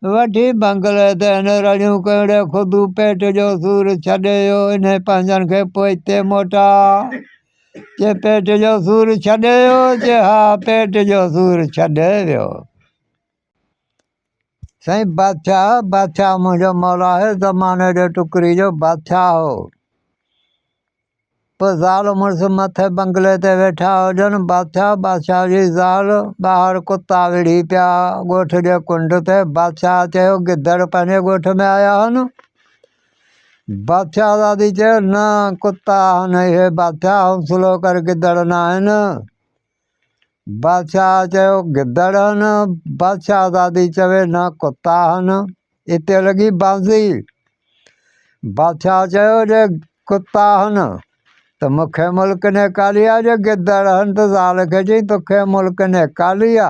وٺي بنگلي تي هن رڙيون ڪيون ڙي خودو پيٽ جو سور ڇڏي ويو انهي پنهنجن کي پوء هتي موٽاء چي پيٽ جو سور ڇڏي ويو چي ها پيٽ جو سور ڇڏي ويو سائين بادشاهه بادشاهه منهنجو مولا هي زماني جي ٽڪري جو بادشاهه هو پوء زال مڙس مٿي بنگلي تي ويٺا هجن، بادشاهه، بادشاهه جي زال، ٻاهر ڪتا وڙهي پيا ڳوٺ جي ڪنڊ تي، بادشاهه چيو، گدڙ پنهنجي ڳوٺ ۾ آيا آهن؟ بادشاهه زادي چيو، نه ڪتا آهن اهي، بادشاهه، حوصلو ڪر گدڙ نه آهن. بادشاهه چيو گدڙ هن بادشاهه زادي چوي نه ڪتا هن اتي لڳي بانزي بادشاهه چيو جي ڪتا هن ته مونکي ملڪ نيڪالي آ جي گدڙ هن ته زال کي چي توکي ملڪ نيڪالي آ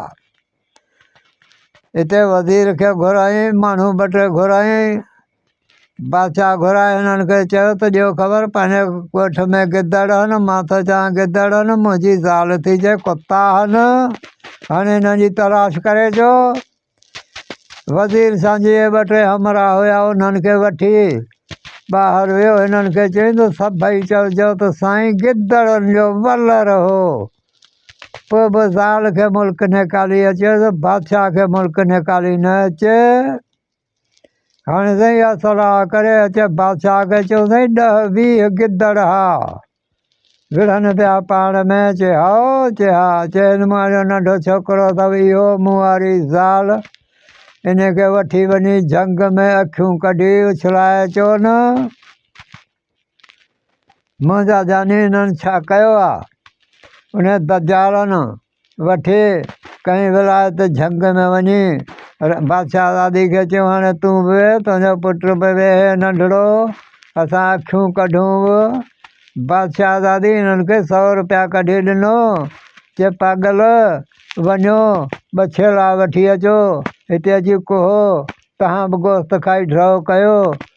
اتي وزير کي گهرايائين، ماڻهو ٻه ٽي گهرايائين، بادشاهه گهرائي هنن کي چيو ته ڏيو خبر پنهنجي ڳوٺ ۾ گدڙ آهن، مان ٿو چوان گدڙ آهن، منهنجي زال ٿي چئي ڪتا آهن، هاڻي هنن جي تلاش ڪري اچو. وزير سانجهيء ٻه ٽي همراهه هيا، انهن کي وٺي ٻاهر ويو، هنن کي چيائين ته سڀئي چئجو ته سائين گدڙن جو ولر هو. پوء به زال کي ملڪ نيڪالي اچي ته بادشاهه کي ملڪ نيڪالي نه اچي هاڻي سائين اها صلاح ڪري اچي بادشاهه کي چيو سائين ڏه ويهه گدڙ ها وڙهن پيا پاڻ ۾ چي هائو چي ها چي هن مان جو ننڍو ڇوڪرو اٿو اهو مون واري زال ان کي وٺي وڃي جنگ ۾ اکيون ڪڍي اڇلائي اچو نه منهنجا جاني هنن ڇا ڪيو آ؟ انهي دجالن وٺي ڪنهن ولايت جهنگ ۾ وڃي بادشاهه زادي کي چيو هاڻي تون به ويهه تنهنجو پٽ به ويهي ننڍڙو اسان اکيون ڪڍون به بادشاهه زادي هنن کي سؤ روپيا ڪڍي ڏنو چي پاڳل وڃو ٻه ڇيلا وٺي اچو هتي اچي ڪهو تهان به گوشت کائي ڊرئو ڪيو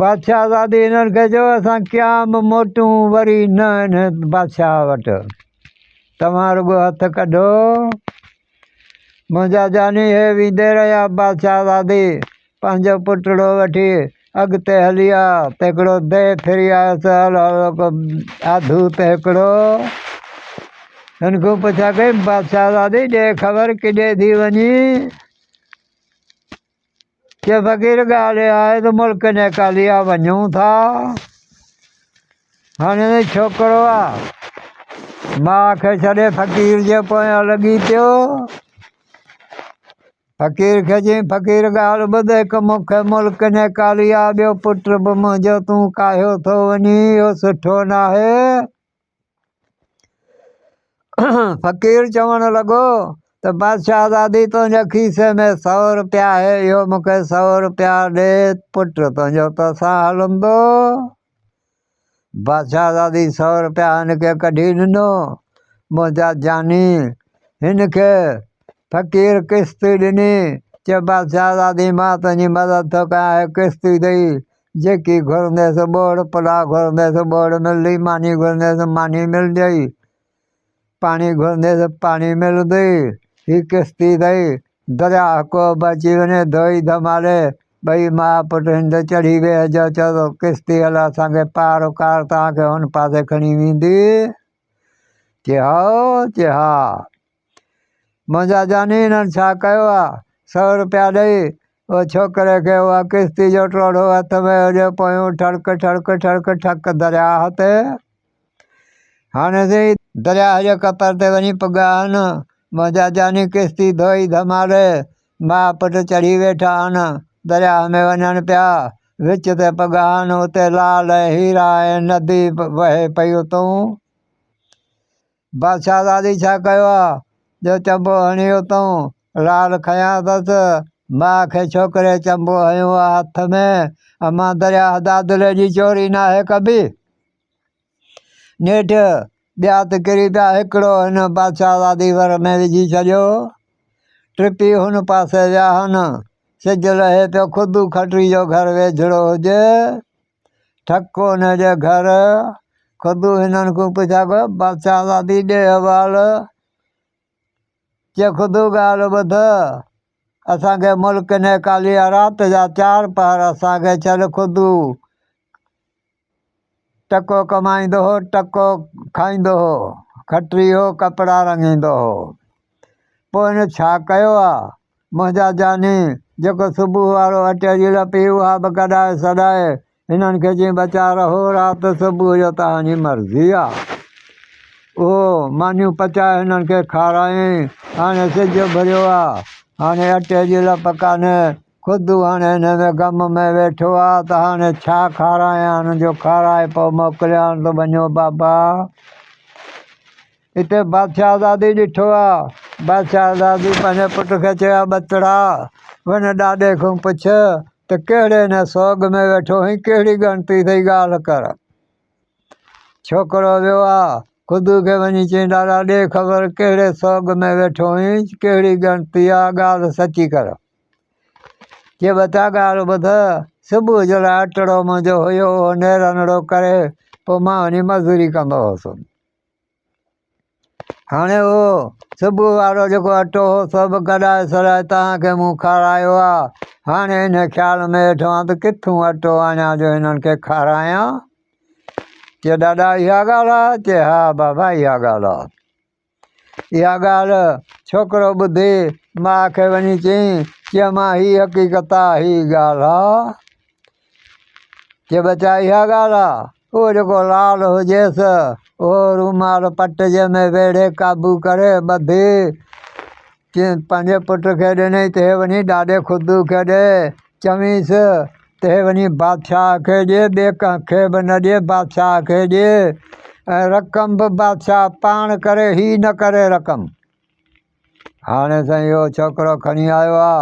بادشاهزادي هنن کي چيو اسان قيام موٽون وري نه هن بادشاهه وٽ توهان رڳو هٿ ڪڍو منهنجا جاني هي ويندي رهيا بادشاهزادي پنهنجو پٽڙو وٺي اڳتي هلي آ ته هڪڙو دي ڦري آيس آڌو ته هڪڙو ان کان پڇا ڪئي بادشاهزادي ڏي خبر ڪيڏي ٿي وڃي ڪي فقير ڳالهه اها آهي ته ملڪ نيڪاليا وڃون ٿا. هاڻي ته ڇوڪرو آ ماء کي ڇڏي فقير جي پويان لڳي پيو. فقير کي چين فقير ڳالهه ٻڌ هڪ مون کي ملڪ نيڪاليا ٻيو پٽ به منهنجو تون ڪاهيو ٿو وڃين اهو سٺو ناهي. فقير چوڻ لڳو ته بادشاهزادي تنهنجي کيسي ۾ سؤ روپيا آهي، اهو مون کي سؤ روپيا ڏي، پٽ تنهنجو توسان هلندو. بادشاهزادي سؤ روپيا هن کي ڪڍي ڏنو. منهنجا جاني هن کي فقير قسطي ڏني، چيو بادشاهزادي مان تنهنجي مدد ٿو ڪيان، هي قسطي ڏئي جيڪي گهرنديس ٻوڙ، پلاء گهرنديس ٻوڙ ملندي، ماني گهرنديس ماني ملندئي، پاڻي گهرنديس پاڻي ملندئي، هي ڪس ٿي ٿئي، درياء ڪوهه به اچي وڃي، ڌوئي ڌمالي، ٻئي ماء پٽ هن تي چڙهي ويهي جو چئو ته ڪس ٿي هل اسان کي پار اڪار توهان کي هن پاسي کڻي ويندي، چي هائو، چي ها. منهنجا جاني هنن ڇا ڪيو آ سئو روپيا ڏئي او ڇوڪري کي اها ڪشتي جو ٽوڙهو هٿ ۾ هليو پيو ٺڙڪ ٺڙڪ ٺڙڪ ٺڪ درياهه تي هاڻي سي درياهه جي ڪپر تي وڃي پڳا آهن منهنجا جاني ڪشتي ڌوئي ڌماڙي ماء پٽ چڙهي ويٺا آهن درياهه ۾ وڃن پيا وچ تي پڳا آهن اتي لال ۽ هيرا ۽ ندي وهي پئي اتون بادشاهه زادي ڇا ڪيو آ جو چنبو هڻيو اٿئون؟ لاڙ کنيا اٿس. ماء کي ڇوڪري چنبو هنيو آ هٿ ۾. امان درياهه دادلي جي چوري ناهي ڪبي. نيٺ ٻيا ته ڪري پيا هڪڙو هن بادشاهه زادي ور ۾ وجهي ڇڏيو. ٽپي هن پاسي ويا هن. سج لهي پيو خود کٽري جو گهر ويجهڙو هجي. ٺڪ هن جي گهر، خدو هنن کون پڇا ڪو، بادشاهه زادي ڏي حوال، چي خدو ڳالهه ٻڌ، اسان کي ملڪ نيڪالي آ، رات جا چار پهر اسان کي ڇڏ، خدو ٽڪو ڪمائيندو هو، ٽڪو کائيندو هو، کٽري هو، ڪپڙا رڱيندو هو. پوء هن ڇا ڪيو آ؟ منهنجا جاني، جيڪو صبح وارو اٽي جي لپ هي اها به ڪڏائي سڏائي هنن کي چيائين ٻچا رهو رات صبح جو توهان جي مرضي آ. اهو مانيون پچائي هنن کي کارايائين. هاڻي سج اڀريو آ. هاڻي اٽي جي لپ ڪانهي. خدو هاڻي انهي ۾ غم ۾ ويٺو آ ته هاڻي ڇا کارايان جو کارائي پوء موڪليان ته وڃو بابا. اتي بادشاهزادي ڏٺو آ. بادشاهزادي پنهنجي پٽ کي چيو آ، ٻتڙا! وڃ ڏاڏي کان پڇ ته ڪهڙي هن سوڳ ۾ ويٺو هين، ڪهڙي ڳڻتي ٿئي ڳالهه ڪر. ڇوڪرو ويو آ، خدو کي وڃي چيائين، ڏاڏا ڏي خبر ڪهڙي سوڳ ۾ ويٺو هين، ڪهڙي ڳڻتي آ، ڳالهه سچي ڪر. چي ٻچا ڳالهه ٻڌ، صبح جو لاء ٽڙو منهنجو هيو، اهو نيرنڙو ڪري پوء مان وڃي مزوري ڪندو هوس. هاڻي اهو صبح وارو جيڪو اٽو هو سو به گڏائي سڏائي توهان کي مون کارايو آ. هاڻي ان خيال ۾ هيٺ هئان ته ڪٿون اٽو آڻيان جو هنن کي کارايان. چي ڏاڏا اها ڳالهه آ؟ چي ها بابا اها ڳالهه آ. اها ڳالهه ڇوڪرو ٻڌي ماء کي وڃي چيائين، چيو مان هي حقيقت آ، هي ڳالهه آ. جي ٻچا اها ڳالهه آ، اهو جيڪو لال هجيس، اهو رومال پٽ جي ۾ ويڙهي قابو ڪري ٻڌي چين پنهنجي پٽ کي ڏنئي ته هي وڃي ڏاڏي خدو کي ڏي، چوينس ته هي وڃي بادشاهه کي ڏي، ٻي ڪنهن کي به نه ڏي، بادشاهه کي ڏي ۽ رقم به بادشاهه پاڻ ڪري، هي نه ڪري رقم. هاڻي سائين اهو ڇوڪرو کڻي آيو آ.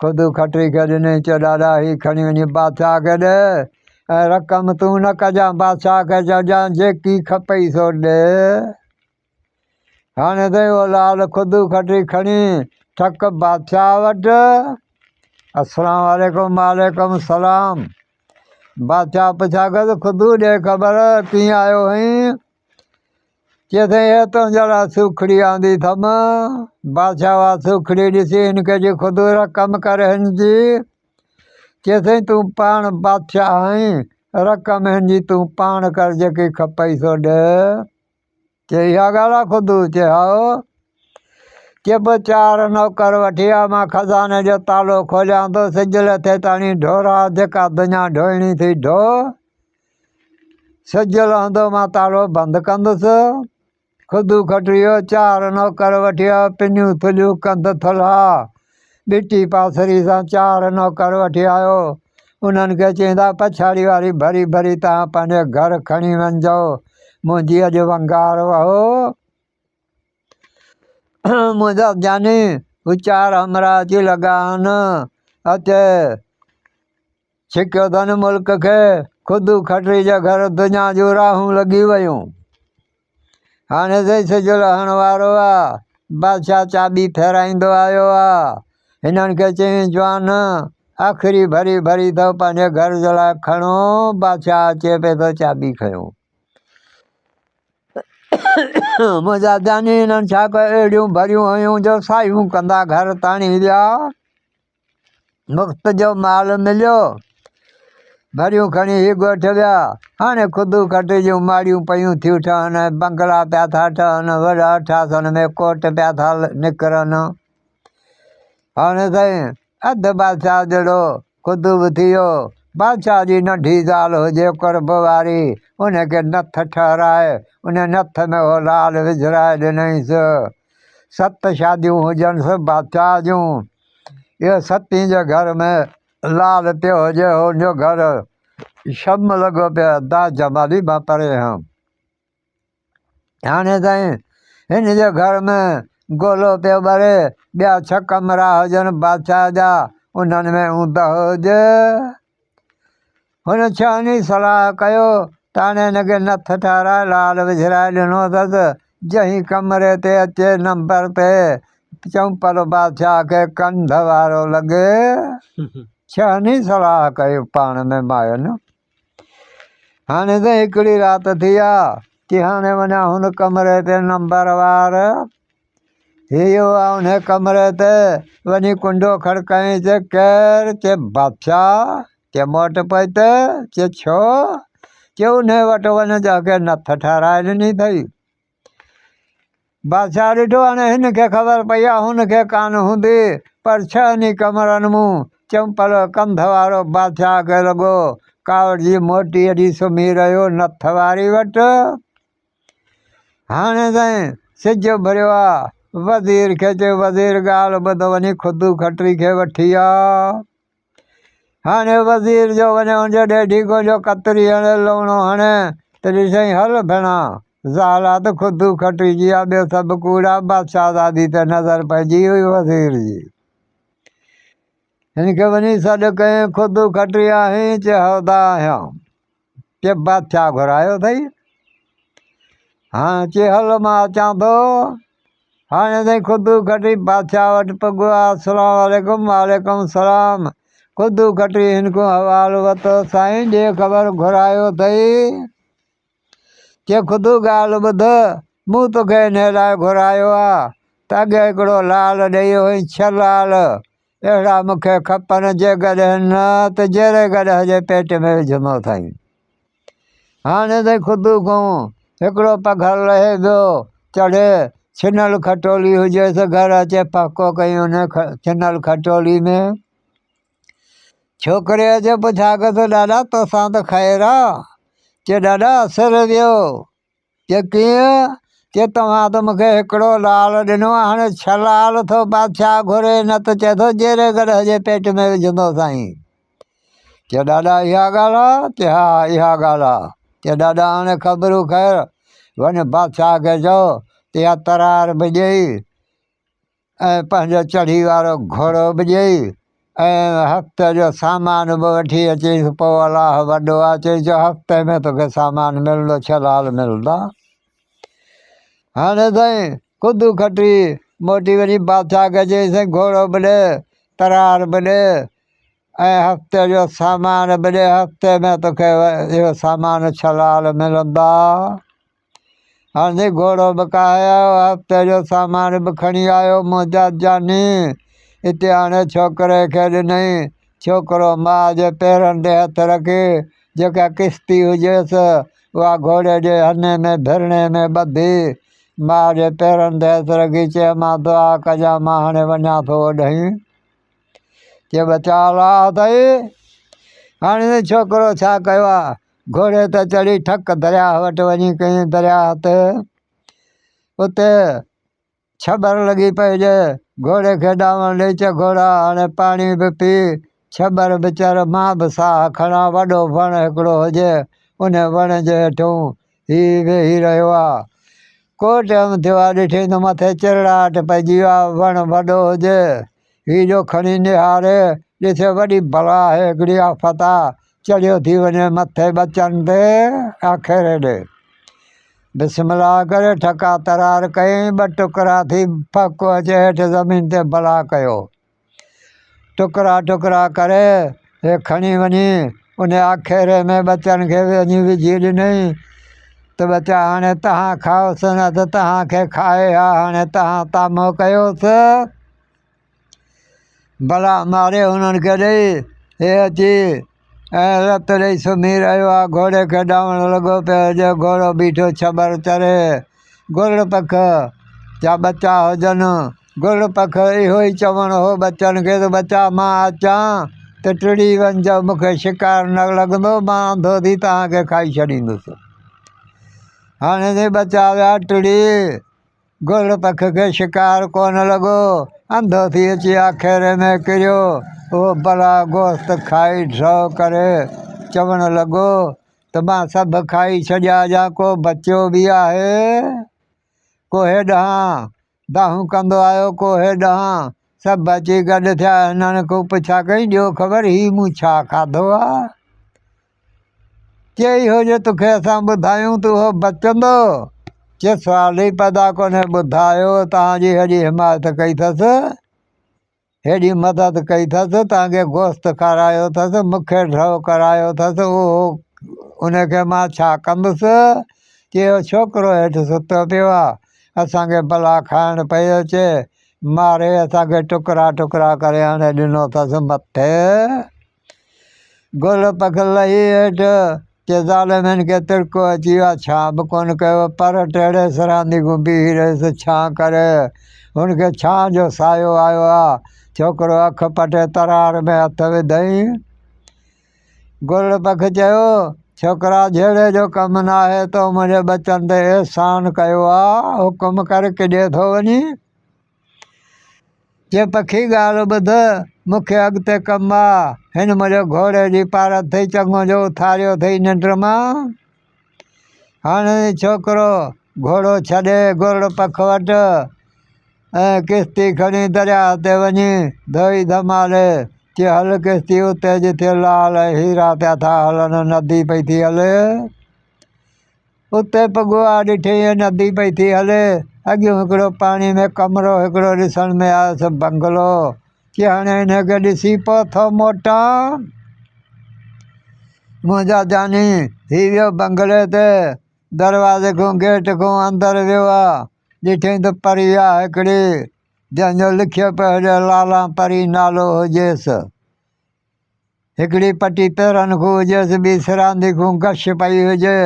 خود کٽري کي ڏنائين چيو ڏاڏا هي کڻي وڃي بادشاهه کي ڏي ۽ رقم تون نه ڪجان بادشاهه کي چئجان جيڪي کپئي سو ڏي. هاڻي سائين اهو لال خود کٽري کڻي ٽھڪ بادشاهه وٽ السلام عليڪم وعليڪم السلام بادشاهه پڇا ڪيس خود ڏي خبر ڪيئن آيو هئين. چيسين، اي تنهنجا لاء سوکڙي آندي اٿم. بادشاهه اها سوکڙي ڏسي هن کي چيو، خدو را ڪم ڪر هن جي. چيسين، تون پاڻ بادشاهه آهين، رقم هن جي تون پاڻ ڪر، جيڪي کپئي سو ڏي. چي، اها ڳالهه آهي خدو؟ چي، هائو. چي، پوء چار نوڪر وٺي آء، مان خزاني جو تالو کوليان ٿو، سج لٿي تاڻي ڍورا، جيڪا دڃا ڍوئڻي ٿي ڍو. سج لهندو مان تاڙو بند ڪندس، خدو کٽريو چار نوڪر وٺيا، پنيون ٿلهيون ڪنڌ ٿلها، ٻٽي پاسري سان چار نوڪر وٺي آيو، انهن کي چيائين ته پڇاڙي واري ڀري ڀري توهان پنهنجي گهر کڻي وڃجو، منهنجي اڄ ونگار وهو، منهنجا جاني هو چار همراهه اچي لڳا آهن، اچ! ڇڪيو ڌن ملڪ کي خود کٽري جا گهر دنيا جون راهون لڳي ويون هاڻي سائين سج لهڻ وارو آ بادشاهه چاٻي ڦيرائيندو آيو آ هنن کي چيائين جوان آخري ڀري ڀري اٿو پنهنجي گهر جي لاء کڻو بادشاهه اچي پي ٿو چاٻي کيو منهنجا جاني هنن ڇا ڪيو اهڙيون ڀريون هيون جو سايون ڪندا گهر تاڻي ويا مفت جو مال مليو، ڀريون کڻي هي ڳوٺ ويا. هاڻي خدو کٽي جون ماڙيون پيون ٿيون ٺهن، بنگلا پيا ٿا ٺهن، وڏا ٺاسن ۾ ڪوٽ پيا ٿا نڪرن. هاڻي سائين اڌ بادشاهه جهڙو خدو به ٿي ويو. بادشاهه جي ننڍي زال هجي قرب واري، ان کي نٿ ٺهرائي، ان نٿ ۾ اهو لال وجهرائي ڏنائينس. ست شاديون هجنس بادشاهه جون. اهو ستين جو گهر ۾ لال پيو هجي هو ان جو گهر شم لڳو پيو ادا جمالي مان پري هيم هاڻي تائين هن جو گهر ۾ گولو پيو ٻري ٻيا ڇهه ڪمرا هجن بادشاهه جا انهن ۾ اوندهه هجي هن ڇهني صلاح ڪيو ته هاڻي هن کي نٿ ٺهرائي لال وجهرائي ڏنو اٿس، جنهن ڪمري تي اچي نمبر تي چؤنپر بادشاهه کي ڪنڌ وارو لڳي. ڇهني صلاح ڪئي پاڻ ۾ ماين هاڻي ته هڪڙي رات ٿي آ، ڪي هاڻي وڃان هن ڪمري تي نمبر وار هيو آء انهيء ڪمري تي وڃي ڪنڊو کڙڪايائين چي، ڪير؟ چي، بادشاهه! چي، مون وٽ پئي ته؟ چي، ڇو؟ چي، انهيء وٽ وڃ جنهن کي نٿ ٺهرائي ڏني اٿئي. بادشاهه ڏٺو هاڻي هن کي خبر پئي آهي هن کي ڪانه هوندي پر ڇهن ئي ڪمرن مون چمپل ڪنڌ وارو بادشاهه کي لڳو ڪاوڙجي موٽي اچي سمهي رهيو نٿ واري وٽ. هاڻي تائين سج اڀريو آ. وزير کي چيو وزير ڳالهه ٻڌ وڃي خدو کٽري کي وٺي آ. هاڻي وزير جو وڃي ان جي ڏيڍي ڪو جو ڪتري هڻي لوڻو هڻي ته ڏسين هل ڀيڻا زالا ته خدو کٽري جي آ ٻيو سڀ ڪوڙا بادشاهه زادي تي نظر پئجي هئي وزير جي هن کي وڃي سڏ ڪيائين خدو کٽري آهين چي هودا آهيان. چي بادشاهه گهرايو اٿئي هاڻ چي هل مان اچان ٿو هاڻي اٿئي خدو کٽي بادشاهه وٽ پڳو آ السلام عليڪم وعليڪم السلام خدو کٽي هن کان حوال وتو سائين ڏي خبر گهرايو اٿئي چي خدو ڳالهه ٻڌ مون توکي هن لاء گهرايو آ ته اڳي هڪڙو لال ڏئي هئي ڇهه لال اهڙا مون کي کپن جيڪڏهن نه ته جيري گڏهه جي پيٽ ۾ وجهندو اٿائين. هاڻي تائين خدو کون هڪڙو پگهر لهي ويو. چڙهي ڇنل کٽولي هجي سو گهر اچي پهڪو ڪيئين ان ڇنل کٽولي ۾. ڇوڪري اچي پڇا ڪيس ته ڏاڏا توسان ته خير آ؟ چي ڏاڏا سر ويو. چي ڪيئن؟ چي توهان ته مونکي هڪڙو لعل ڏنو هاڻي ڇهه لعل ٿو بادشاهه گهري نه ته چئي ٿو جيري گڏهه جي پيٽ ۾ وجهندو سائين. چي ڏاڏا اها ڳالهه آ؟ چي ها اها ڳالهه آ. چي ڏاڏا هاڻي خبرون خير وڃ بادشاهه کي چئو چي اها ترار به ڏئي. ۽ پنهنجو چڙهي وارو گهوڙو به ڏيئي ۽ هفت جو سامان به وٺي اچيس پوء الله وڏو آ چئي جو هفتي ۾ توکي سامان ملندو ڇلال ملندا هاڻي سائين خودو کٽي موٽي وڃي بادشاهه کي چئي سائين گهوڙو به ڏي ترار به ڏي ۽ هفتي جو سامان به ڏي هفتي ۾ توکي اهو سامان ڇلال ملندا هاڻي گهوڙو به ڪاهيو، هفتي جو سامان به کڻي آيو منهنجا جاني. اتي آڻي ڇوڪري کي ڏنائين. ڇوڪرو ماء جي پيرن تي هٿ رکي، جيڪا ڪشتي هجيس، اها گهوڙي جي هني ۾ ڀرڻي ۾ ٻڌي. ماء جي پيرن تي هٿ رکي چيائين، مان دعا ڪجان، مان هاڻي وڃان ٿو اوڏهين. چيو، ٻچا الاهه اٿئي. هاڻي ڇوڪرو ڇا ڪيو ها؟ گهوڙي تي چڙهي ٺڪ درياهه وٽ وڃي ڪيئي درياهه تي اتي ڇٻر لڳي پئي ڄي گهوڙي کي ڏانوڻ ڏئي چئي گهوڙا هاڻي پاڻي به پي ڇٻر به چر مان به ساهه کڻان وڏو وڻ هڪڙو هجي ان وڻ جي هيٺون هي ويهي رهيو آهي ڪو ٽيم ٿيو آهي ڏٺئي ته مٿي چرڙاهٽ پئجي ويو آهي وڻ وڏو هجي هي جو کڻي نهار، ڏس وڏي بلا آهي هڪڙي آفت آ، چڙهيو ٿي وڃي مٿي ٻچن تي آخر هيڏي. بسم الله ڪري ٺڪا ترار ڪيائين، ٻه ٽڪرا ٿي ڦڪو اچي هيٺ زمين تي بلا ڪيو. ٽڪرا ٽڪرا ڪري هي کڻي وڃي ان آکيري ۾ ٻچن کي وڃي وجهي ڏنئي ته ٻچا هاڻي تهان کائوس نه ته تهان کي کائي ها هاڻي تهان تامو ڪيوس بلا ماري هنن کي ڏئي هي اچي ۽ رت ڏئي سمهي رهيو آ گهوڙي کي ڏائڻ لڳو پيو جو گهوڙو بيٺو ڇٻر چري گرڙ پک جا ٻچا هجن گل پک اهو ئي چوڻ هو ٻچن کي ته ٻچا مان اچان ته ٽڙي وڃجو، مون کي شڪار نه لڳندو، مان انڌو ٿي توهان کي کائي ڇڏيندس. هاڻي جي ٻچا ويا ٽڙي، گل پک کي شڪار ڪونه لڳو، انڌو ٿي اچي آکيري ۾ ڪريو، اهو بلا گوشت کائي ڍرو ڪري چوڻ لڳو ته مان سڀ کائي ڇڏيا جا ڪو بچيو به آهي ڪوهي ڏانهن. دانهون ڪندو آيو ڪوهي ڏانهن. سڀ اچي گڏ ٿيا هنن کون پڇا ڪئين ڏيو خبر هي مون ڇا کاڌو آ؟ چي اهو جو توکي اسان ٻڌايون ته اهو بچندو؟ چي سوال ئي پيدا ڪونهي ٻڌايو تهان جي هيڏي حمايت ڪئي ٿس هيڏي مدد ڪئي ٿس، تان کي گوشت کارايو ٿس، مون کي ڍؤ ڪرايو ٿس، اهو ان کي مان ڇا ڪندس؟ جي اهو ڇوڪرو هيٺ ستو پيو آهي، اسان کي بلا کائڻ پئي اچي، ماري اسان کي ٽڪرا ٽڪرا ڪري آڻي ڏنو ٿس مٿي. گل پک لهي هيٺ، ڪي ظالم هن کي تڙڪو اچي ويو آهي، ڇا به ڪونه ڪيو، پر ٽيڙي سرهندي گهمي بيهي رهيس، ڇان ڪري، هن کي ڇانء جو سايو آيو آهي. ڇوڪرو اک پٽي ترار ۾ هٿ وڌائين. گل پک چيو، ڇوڪرا جهيڙي جو ڪم ناهي، تو منهنجي ٻچن تي احسان ڪيو آهي، حڪم ڪر ڪيڏي ٿو وڃين؟ چي پکي ڳالهه ٻڌ، مون کي اڳتي ڪم آ. هن منهنجي گهوڙي جي پاڙ اٿئي چڱو جو اٿاريو اٿئي ننڊ مان. هاڻي ڇوڪرو گهوڙو ڇڏي گرڙ پک وٽ ۽ ڪشتي کڻي درياهه تي وڃي ڌوئي ڌمالي چي هل ڪشتي اتي جتي لال ۽ هيرا پيا ٿا هلن ندي پئي ٿي هلي. اتي پڳهو آء ڏٺي هيء ندي پئي ٿي هلي. اڳيون هڪڙو پاڻي ۾ ڪمرو هڪڙو ڏسڻ ۾ آيس، بنگلو، چي هاڻي انهي کي ڏسي پوء ٿو موٽان. منهنجا جاني! هي ويو بنگلي تي، دروازي کون گيٽ کون اندر ويو آ، ڏٺئين ته پري آ هڪڙي، جنهن جو لکيو پيو هجي لالان پري نالو هجيس. هڪڙي پٽي پيرن کان هجيس، ٻي سراندي کان گش پئي هجي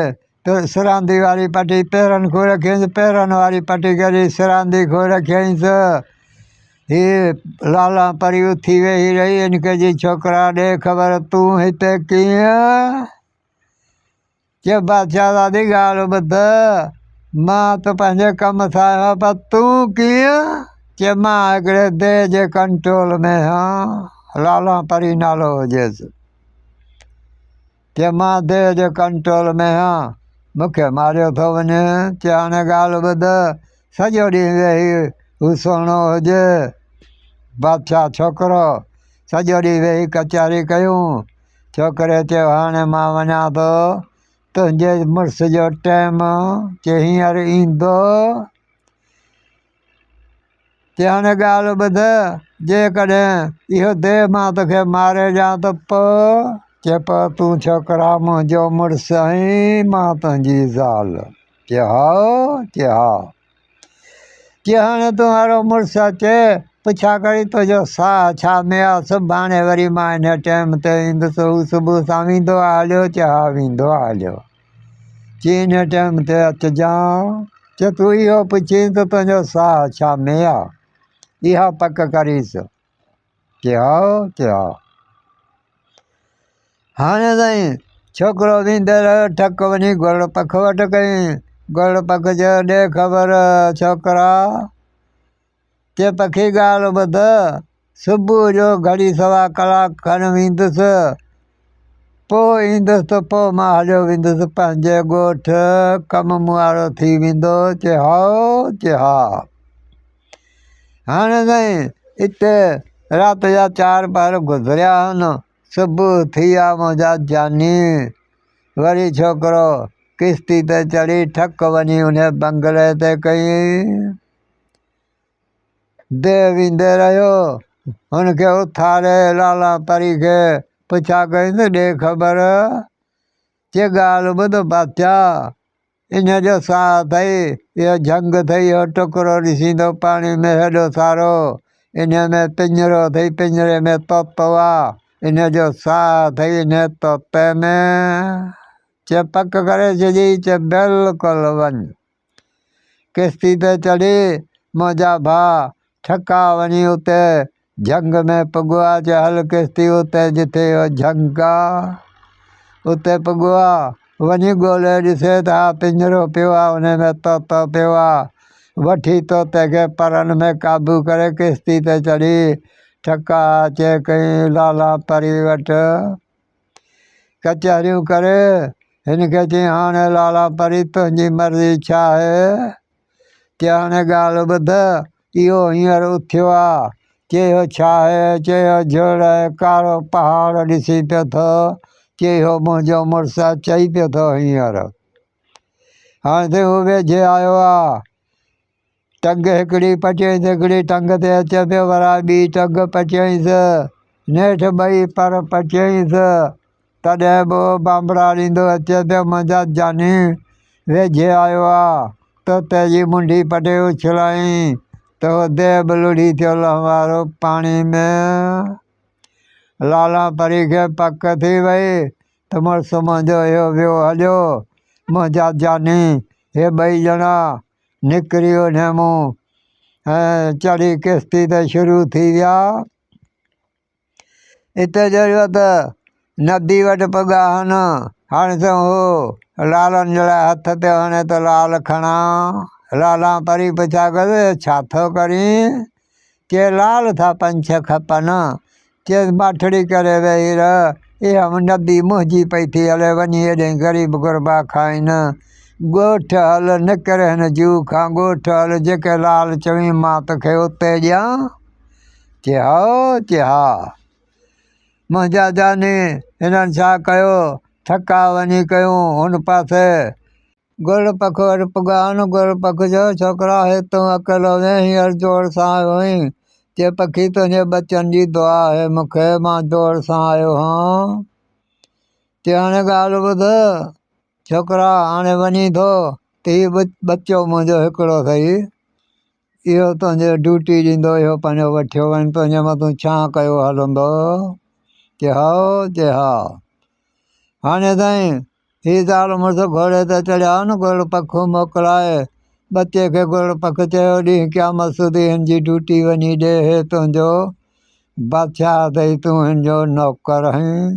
ته سراندي واري پٽي پيرن کان رکينس، پيرن واري پٽي ڳري سراندي کان رکيائينس. هيء لالان پري اٿي ويهي رهي، انڪ جي ڇوڪرا ڏي خبر تون هتي ڪيئن؟ چيو بادشاهه زادي ڳالهه ٻڌ، مان ته پنهنجي ڪم سان آهيان، پر تون ڪيئن؟ چيو مان هڪڙي ديء جي ڪنٽرول ۾ آهيان، لالان پري نالو هجيس. چيو مان ديء جي ڪنٽرول ۾ آهيان، مون کي ماريو ٿو وڃي. چيو هاڻي ڳالهه ٻڌ، سڄو ڏينهن ويهي هو سهڻو هجي. بادشاهه ڇوڪرو سڄو ڏينهن ويهي ڪچهري ڪيون. ڇوڪريء چيو، هاڻي مان وڃان ٿو، تنهنجي مڙس جو ٽيم ڪي هينئر ايندو. چي هاڻي ڳالهه ٻڌ، جيڪڏهن اهو ديهه مان توکي ماري ڏيان ته پوء؟ چي پوء تون ڇوڪرا منهنجو مڙس آهين، مان تنهنجي زال. چي هائو! چي ها! چي هاڻي تون اهڙو مڙس اچي پڇا ڪري تنهنجو ساهه ڇا ميا سڀاڻي وري مان انهيء ٽيم تي ايندس هو صبح سان ويندو آ هليو چي ها ويندو آ هليو چي انهيء ٽيم تي اچجان چي تون اهو پڇين ته تنهنجو ساهه ڇا ميا اها پڪ ڪريس ڪيا ڪيا. هاڻي تائين. ڇوڪرو ويندڙ ٽڪ وڃي گرڙ پک وٽ ڪيائين. گرڙ پک چيو، ڏي خبر ڇوڪرا. چي پکي ڳالهه ٻڌ. صبح جو گهڙي سوا ڪلاڪ کن ويندس. پوء ايندس ته پوء مان هليو ويندس پنهنجي ڳوٺ. ڪم مون وارو ٿي ويندو. چي هائو. چي ها. هاڻ تائين اتي رات جا چار پهر گذريا هن. صبح ٿي آ منهنجا جاني. وري ڇوڪرو ڪشتي تي چڙهي ٺڪ وڃي ان بنگلي تي ڪيئي. ديء ويندي رهيو. هن کي اٿاري لالا پري کي پڇا ڪيائين ته ڏي خبر. چي ڳالهه ٻڌ بادشاهه. ان جو ساهه اٿئي، اهو جهنگ اٿئي، اهو ٽڪرو ڏسين ٿو پاڻي ۾ هيڏو سارو، ان ۾ پڃرو اٿئي، پڃري ۾ طوطو آ، ان جو ساهه اٿئي، ان طوطي ۾، چي پڪ ڪري ڇڏي، چي بلڪل وڃ، ڪشتي تي چڙهي، منهنجا ڀاء، ٺڪاء وڃي اتي جهنگ ۾ پڳوا جو هل ڪستي اتي جتي هو جهنگا اتي پڳوا وڃي ڳولي ڏسي ته ها پڃرو پيو آ ان ۾ طوطو پيو آ وٺي طوطي کي پرن ۾ قابو ڪري ڪستي تي چڙهي ٺڪا اچي ڪئين لالا پري وٽ ڪچهريون ڪري هن کي چيائين هاڻي لالا پري تنهنجي مرضي ڇا آهي ڪي هاڻي ڳالهه ٻڌ، اهو هينئر اٿيو آ. ڪي اهو ڇا آهي؟ ڪي اهو جهڙ آهي، ڪارو پهاڙ ڏسي پيو ٿو. ڪي اهو منهنجو مڙس آ، چئي پيو ٿو هينئر. هاڻي تائين هو ويجهي آيو آ. ٽنگ هڪڙي پچيائينس، هڪڙي ٽنگ تي اچي پيو، ورائي ٻي ٽنگ پچيائينس. نيٺ ٻئي پر پچيائينس. تڏهن به ٻانبراڙيندو اچي پيو منهنجا جاني ويجهي آيو آ تو تي جي منڍي پٽي اڇلائين تو دي به لڙهي ٿيو لهوارو پاڻي ۾ لالان پري کي پڪ ٿي وئي ته مڙس منهنجو اهو ويو هليو منهنجا جاني هي ٻئي ڄڻا نڪري اونهي مون ۽ چڙهي ڪشتي تي شروع ٿي ويا. اتي جو هيو ته ندي وٽ پڳا هن، هاڻي سون هو لالن جي لاء هٿ پيو هڻي ته لال کڻان. لالا پري پڇا ڪيس ڇا ٿو ڪرين؟ چي لال ٿا پنج ڇهه کپن. چيس باٺڙي ڪري ويهي رهه، اها ندي منهنجي پئي ٿي هلي، وڃي هيڏي غريب غربا کائين. ڳوٺ هل، نڪر هن جوء کان ڳوٺ هل، جيڪي لال چوين مان توکي اتي ڏيان. چي ها چي ها منهنجا جاني هنن ڇا ڪيو ٿڪا وڃي ڪيون هن پاسي. گل پک وٽ پڳان گل پک جو ڇوڪرا هي تون اڪيلو وين هينئر جوڙ سان آيو هين چي پکي تنهنجي ٻچن جي دعا آهي مون کي مان جوڙ سان آيو هان چي هاڻي ڳالهه ٻڌ ڇوڪرا هاڻي وڃين ٿو ته هي ٻچو منهنجو هڪڙو سهي اهو تنهنجي ڊيوٽي ڏيندو اهو پنهنجو وٺيو وڃ تنهنجي مٿان ڇا ڪيو هلندو چي هائو چي ها هاڻي تائين هي زال مڙس گهوڙي ته چڙهيا نه گهوڙ پک موڪلائي ٻچي کي گهوڙ پک چيو ڏينهن قيامت سودي هن جي ڊيوٽي وڃي ڏي هي تنهنجو بادشاهه اٿئي تون هن جو نوڪر هين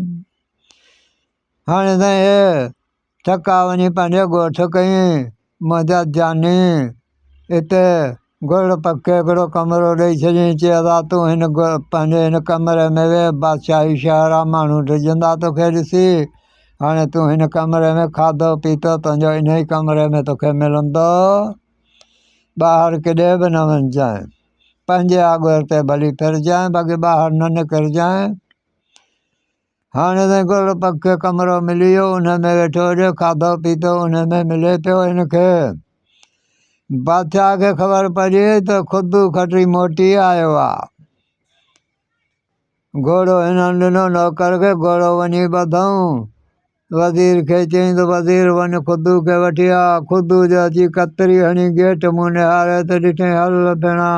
هاڻي تائين ٿڪا وڃي پنهنجي ڳوٺ ڪئين مدد جاني اتي گرڙ پکي هڪڙو ڪمرو ڏئي ڇڏيائين چيس ها تون هن پنهنجي هن ڪمري ۾ ويهه بادشاهي شهر آ ماڻهو ڊڄندا توکي ڏسي هاڻي تون هن ڪمري ۾ کاڌو پيتو تنهنجو انهي ڪمري ۾ توکي ملندو ٻاهر ڪڏهن به نه وڃجانء پنهنجي آڳر تي ڀلي ڦرجانء باقي ٻاهر نه نڪرجانء هاڻي ته گل پگ کي ڪمرو ملي ويو ان ۾ ويٺو هجي کاڌو پيتو ان ۾ ملي پيو ان کي بادشاهه کي خبر پئجي ته خود کٽي موٽي آيو آهي گهوڙو هنن ڏنو نوڪر کي گهوڙو وڃي ٻڌائون وزير کي چيائين ته وزير وڃ خدو کي وٺي آء. خدو جو اچي ڪتري هڻي گيٽ منهن نهاريو ته ڏٺائين هل ڀيڻا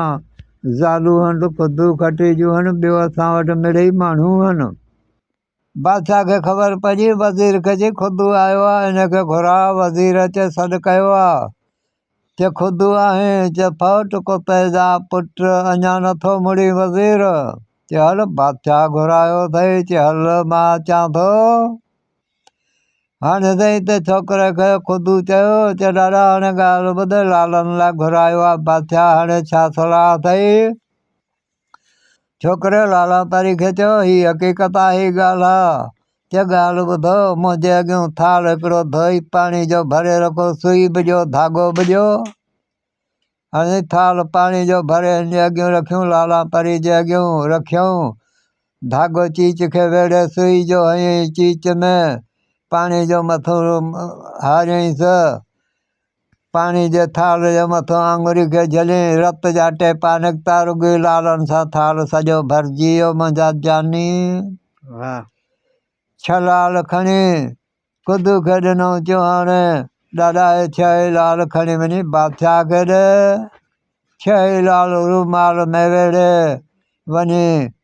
زالون هن ته خدو کٽي جون هن ٻيو اسان وٽ مڙئي ماڻهو هن. بادشاهه کي خبر پڄي وزير کي چيائين خدو آيو آ ان کي گهراء. وزير اچي سڏ ڪيو آ. چه خود آهين چه ڦوٽ ڪو پيدا پٽ اڃا نه ٿو مڙين وزير چه هل بادشاهه گهرايو اٿئي چه هل مان اچان ٿو هاڻي سائين ته ڇوڪري کي خود چيو چه ڏاڏا هاڻي ڳالهه ٻڌ لالن لاء گهرايو آهي بادشاهه هاڻي ڇا صلاح اٿئي ڇوڪري لالاتاري کي چيو، هي حقيقت آهي ڳالهه آ، چي ڳالهه ٻڌو، منهنجي اڳيون ٿالهه هڪڙو ڌوئي پاڻي جو ڀري رکو، سوئي به ڏيو، ڌاڳو به ڏيو. هنئين ٿالهه پاڻي جو ڀري هن جي اڳيون رکيون، لالاتاري جي اڳيون رکيائون. ڌاڳو چيچ کي ويڙهي سوئي جو هنئين چيچ ۾ پاڻي جو مٿو هاريائينس. پاڻي جي ٿالهه جي مٿان آڱري کي جهلين، رت جا ٽيپا نڪتا، رڳي لالن سان ٿالهه سڄو ڀرجي ويو، منهنجا جاني واهه. ڇهه لال کڻي خدو کي ڏنائون چوهاڻ، ڏاڏا هي ڇهه ئي لال کڻي وڃي بادشاهه کي ڏي، ڇهه ئي لال رومال ۾ ويڙهي وڃي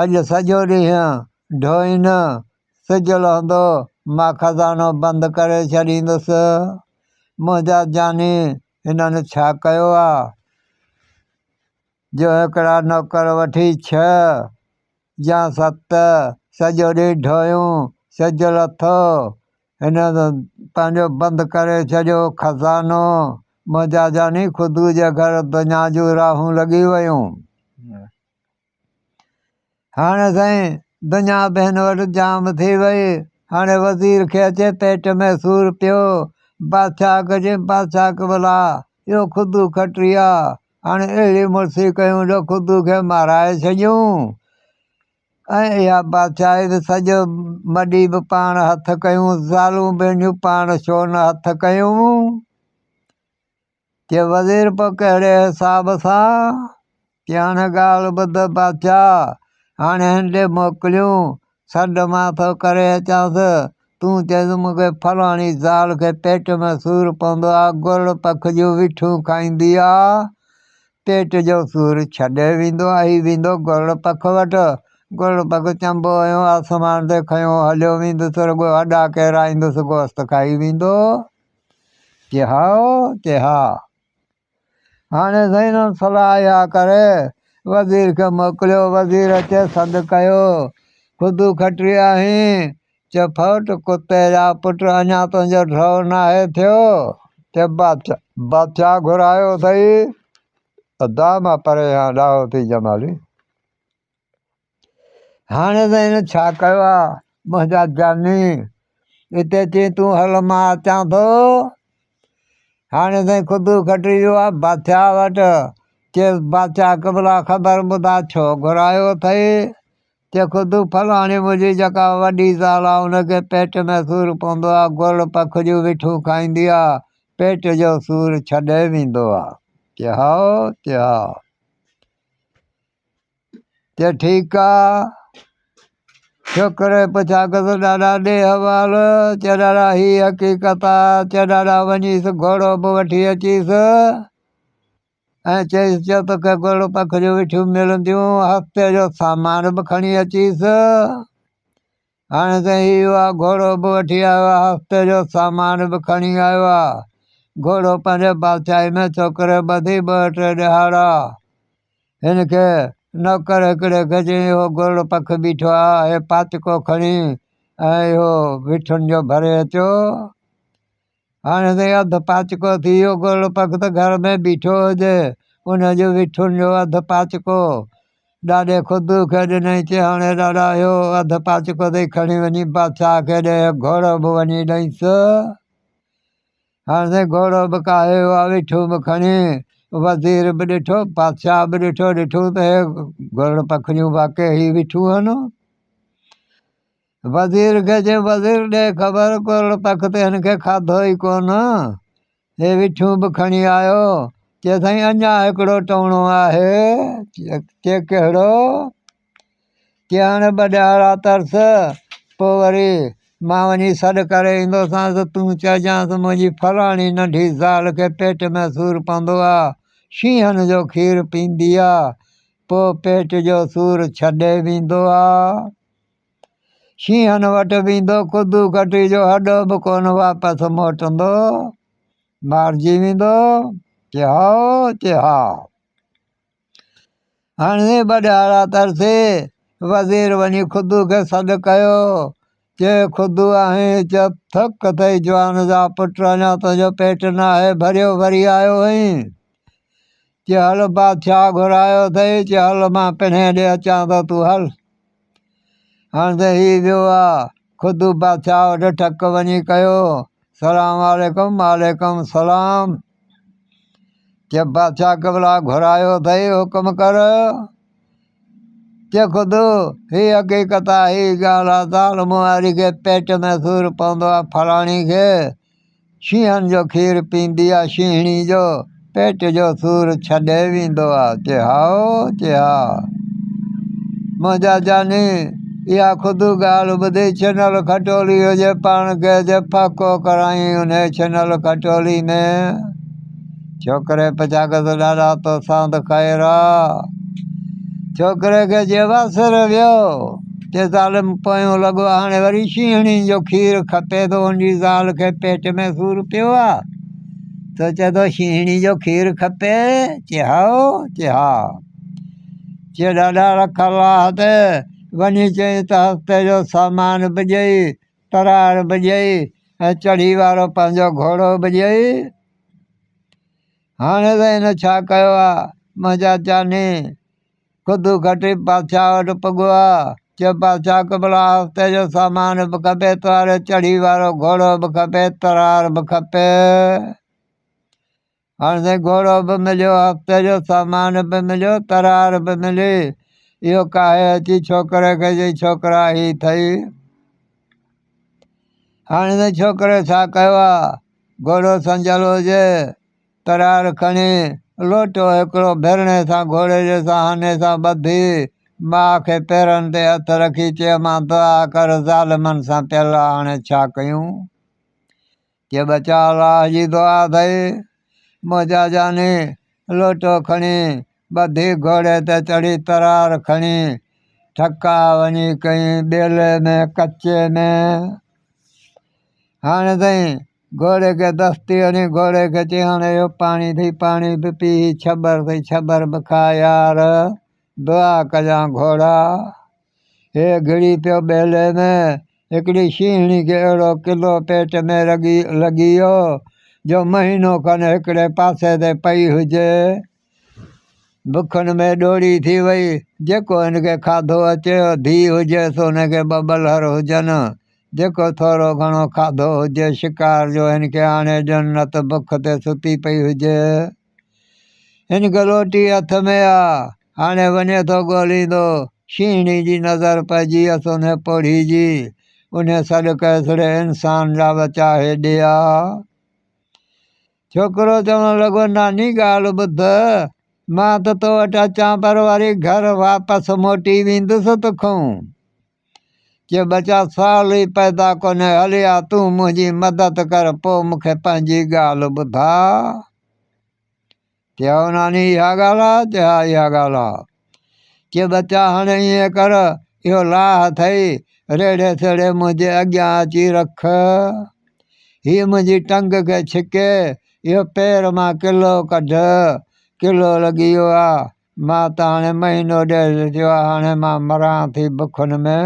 اڄ سڄو ڏينهن ڍوئين، سج لهندو مان خزانو بند ڪري ڇڏيندس. منهنجا جاني هنن ڇا ڪيو آ، جو هڪڙا نوڪر وٺي ڇهه يا ست سڄو ڏينهن ڍويون، سج لٿو هن پنهنجو بند ڪري ڇڏيو خزانو. منهنجا جاني خدو جي گهر دنيا جون راهون لڳي ويون. هاڻي سائين دنيا بين وٽ جام ٿي وئي. هاڻي وزير کي اچي پيٽ ۾ سور پيو. بادشاهه کي چيائين بادشاهه قبلا اهو خدو کٽي آ. هاڻي اهڙي مڙسي ڪيون جو خدو کي مارائي ڇڏيون. ۽ اها بادشاهي به سڄو مڏي به پاڻ هٿ ڪيون. زالون ٻيڙيون پاڻ ڇو نه هٿ ڪيون. چي وزير پوء ڪهڙي حساب سان؟ چي هاڻ ڳالهه ٻڌ بادشاهه، هاڻي هن ڏي موڪليون، سڏ مان ٿو ڪري اچانس، تون چئيس مون کي فلاڻي زال کي پيٽ ۾ سور پوندو آ، گرڙ پک جون وٺيون کائيندي آ، پيٽ جو سور ڇڏي ويندو آ، هي ويندو گرڙ پک وٽ، گرڙ پک چنبو هنيو آسمان تي کنيو هليو ويندس رڳو هڏا ڪيرائيندس گوست کائي ويندو. ڪي ها او ڪي ها. هاڻي زين الصلاح اها ڪري وزير کي موڪليو. وزير اچي سڏ ڪيو. خدو کٽري آهين؟ چه ڦوٽ ڪتي جا پٽ اڃا تنهنجو ڍؤ ناهي ٿيو. چه بادشاهه. بادشاهه گهرايو اٿئي. ادا مان پريهان ڏاهو ٿي جمالي. هاڻ ته هن ڇا ڪيو آ منهنجا جاني هتي اچي تون هل مان اچان ٿو هاڻ ته خود کٽي ويو آ بادشاهه وٽ چيس بادشاهه قبلا خبر ٻڌا ڇو گهرايو اٿئي چي خود فلاڻي منهنجي جيڪا وڏي زال آ ان کي پيٽ ۾ سور پوندو آ گل پکڙيون وٺون کائيندي آ پيٽ جو سور ڇڏي ويندو آ چي هائو چي ها چئه ٺيڪ آ شڪر اي پڇاڪس ڏاڏا ڏي حوال چئه ڏاڏا هي حقيقت آ چئه ڏاڏا وڃيس گهوڙو به وٺي اچيس ۽ چئيس چئه توکي گهوڙو پک جون وٺيون ملنديون هفتي جو سامان به کڻي اچيس هاڻي ته هي اها گهوڙو به وٺي آيو آهي، هفتي جو سامان به کڻي آيو آهي. گهوڙو پنهنجي بادشاهي ۾ ڇوڪري ٻڌي ٻه ٽي ڏهاڙا هن کي نوڪر هڪڙي کي چيائين، اهو گهوڙو پک بيٺو آهي، هي پاچڪو کڻي ۽ اهو وٺن جو ڀري اچو. هاڻي ته اڌ پاچڪو ٿي ويو، گل پکت گهر ۾ بيٺو هجي، ان جون وٺون جو اڌ پاچڪو ڏاڏي خدو کي ڏنائين، چي هاڻي ڏاڏا اهو اڌ پاچڪو ٿئي کڻي وڃي بادشاهه کي ڏي، گهوڙو به وڃي ڏئينس. هاڻي سائين گهوڙو به ڪاهي ويو آهي، وٺون به کڻي، وزير به ڏٺو، بادشاهه به ڏٺو، ڏٺو ته هي گل پکڙيون واقعي هي وٺون آهن. وزير کي چيو وزير ڏي خبر ڪورڙ تخت هن کي کاڌو ئي ڪونه هي وٺيون به کڻي آيو چي سائين اڃا هڪڙو ٽوڻو آهي چي ڪهڙو چي هاڻي ٻه ڏهاڙا ترس پوء وري مان وڃي سڏ ڪري ايندوسانس تون چئجانس منهنجي فلاڻي ننڍي زال کي پيٽ ۾ سور پوندو آ شينهن جو کير پيندي آ پوء پيٽ جو سور ڇڏي ويندو آ شينهن وٽ ويندو ڪدو ڪٽي جو هڏو به ڪونه واپس موٽندو مارجي ويندو چي هائو چي ها هاڻي بڏهارا ترسي وزير وڃي خدو کي سڏ ڪيو چي خدو آهي چپ ٿڪ اٿئي جوان جا پٽ اڃا تنهنجو پيٽ نه آهي ڀريو وري آيو آهين چي هل بادشاهه گهرايو اٿئي چي هل مان پنهي ڏي اچان ٿو تون هل هاڻ ته هي ويو آ، خود بادشاهه وٽ ٽڪ وڃي ڪيو، سلام عليڪم، وعليڪم سلام. جي بادشاهه قبلا گهرايو اٿئي، حڪم ڪر. جي خود هي حقيقت آ، هي ڳالهه آ ته عالم واري کي پيٽ ۾ سور پوندو آ، فلاڻي کي. شينهن جو کير پيندي آ شينهڻي جو پيٽ جو سور ڇڏي ويندو آ چي ها او چي ها منهنجا جاني اها خود ڳالهه ٻڌي ڇنل کٽولي هجي پاڻ کي جي ڦڪو ڪرائين انهي ڇنل کٽولي ۾ ڇوڪري پڇا ڪيس ڏاڏا توسان ته خير آ؟ ڇوڪري کي جي واسر ويو چيس عالم پويون لڳو هاڻي وري شينهڻي جو کير کپي ٿو انجي زال کي پيٽ ۾ سور پيو آ سو چي ٿو شينهڻي جو کير کپي چي هائو چي ها چي ڏاڏا رک الله تي وڃي چئي ته هفتي جو سامان به ڏئي تراڙ به ڏئي ۽ چڙهي وارو پنهنجو گهوڙو به ڏئي. هاڻي ته هن ڇا ڪيو آ؟ منهنجا چاني خودو کٽي بادشاهه وٽ پڳو آ. چيو، بادشاهه قبلا آستي جو سامان به کپي تو هاڻي چڙهي وارو گهوڙو به کپي، تراڙ به کپي. هاڻ سائين گهوڙو به مليو هفتي جو سامان به مليو ترار به ملي اهو ڪاهي اچي ڇوڪري کي چئي ڇوڪرا هي اٿئي هاڻي سائين ڇوڪري ڇا ڪيو آ گهوڙو سنجل هجي ترار کڻي لوٽو هڪڙو ڀرڻي سان گهوڙي جي سهاني سان ٻڌي ماء کي پيرن تي هٿ رکي چيو مان دعا ڪر ظالمن سان پيل آ هاڻي ڇا ڪيون جي ٻچا الله جي دعا اٿئي، منهنجا جاني، لوٽو کڻي، ٻڌي گهوڙي تي چڙهي ترار کڻي، ٺڪا وڃي ڪئين ٻيلي ۾ ڪچي ۾، هاڻي تائين گهوڙي کي دستي هڻي، گهوڙي کي چئي هاڻي اهو پاڻي ٿئي پاڻي به پي، هي ڇٻر ٿئي ڇٻر به کاء يار، دعا ڪجان گهوڙا. هيء گهڙي پيو ٻيلي ۾، هڪڙي شينهڻي کي اهڙو ڪلو پيٽ ۾ لڳي ويو، جو مهينو کن هڪڙي پاسي تي پئي هجي. بکن ۾ ڏوري ٿي وئي. جيڪو هن کي کاڌو اچي هو، ڌيء هجي سونهن کي ٻه ٻلهر هجن. جيڪو ٿورو گهڻو کاڌو هجي، شڪار جو هن کي آڻي ڏين، نه ته بک تي ستي پئي هجي. هن گلوٽي هٿ ۾ آ، هاڻي وڃي ٿو ڳوليندو. شينهڻي جي نظر پئجي ويس انهي پوڙهي جي. انهي سڏ ڪيسڙي انسان جا ٻچا هيڏي آ. ڇوڪرو چوڻ لڳو، ناني ڳالهه ٻڌ، مان ته تو وٽ اچان پر وري گهر واپس موٽي ويندس تکون. جي ٻچا سال ئي پيدا ڪونهي هلي آ تون منهنجي مدد ڪر پوء مون کي پنهنجي ڳالهه ٻڌاء چي هائو ناني اها ڳالهه آ چي ها اها ڳالهه آ چي ٻچا هاڻي ائين ڪر اهو لاهه اٿئي ريڙهي سيڙهي منهنجي اڳيان اچي رک هي منهنجي ٽنگ کي ڇڪي اهو پير مان ڪلو ڪڍ ڪلو لڳي ويو آ مان ته هاڻي مهينو ڏيڍ ٿيو آهي، هاڻي مان مران ٿي بکن ۾.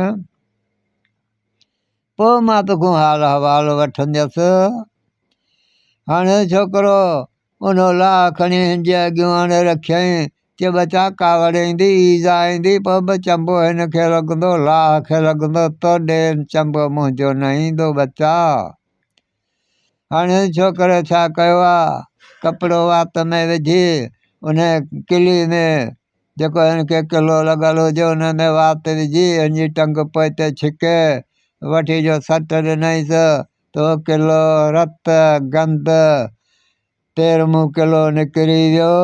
پوء مان توکون حال احوال وٺنديس. هاڻي ڇوڪرو ان الاهه کڻي هن جي اڳيون آڻي رکيائين. چي ٻچا ڪاوڙ ايندي، ايذاء ايندي، پوء به چنبو هن کي لڳندو، الاهه کي لڳندو، تو ڏي هن چنبو منهنجو نه ايندو ٻچا. هاڻي ڇوڪري ڇا ڪيو آ ڪپڙو وات ۾ وجهي ان ڪلي ۾ جيڪو هن کي ڪلو لڳل هجي ان ۾ وات وجهي هن جي ٽنگ پوئتي ڇڪي وٺي جو سٽ ڏنائينس ته هو ڪلو رت گند تيرمون ڪلو نڪري ويو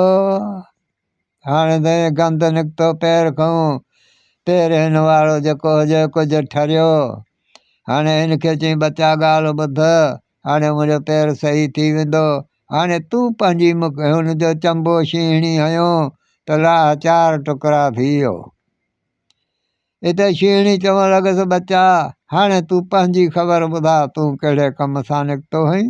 هاڻ دنهن گند نڪتو پير کان، پير هن وارو جيڪو هجي ڪجهه ٺريو. هاڻي هن کي چيائين ٻچا ڳالهه ٻڌ، هاڻي منهنجو پير صحيح ٿي ويندو. هاڻي تون پنهنجي مک هن جو چنبو شينهڻي هنيو ته لاهه چار ٽڪرا ٿي ويو. اتي شينهڻي چوڻ لڳس ٻچا هاڻي تون پنهنجي خبر ٻڌاء تون ڪهڙي ڪم سان نڪتو هئين؟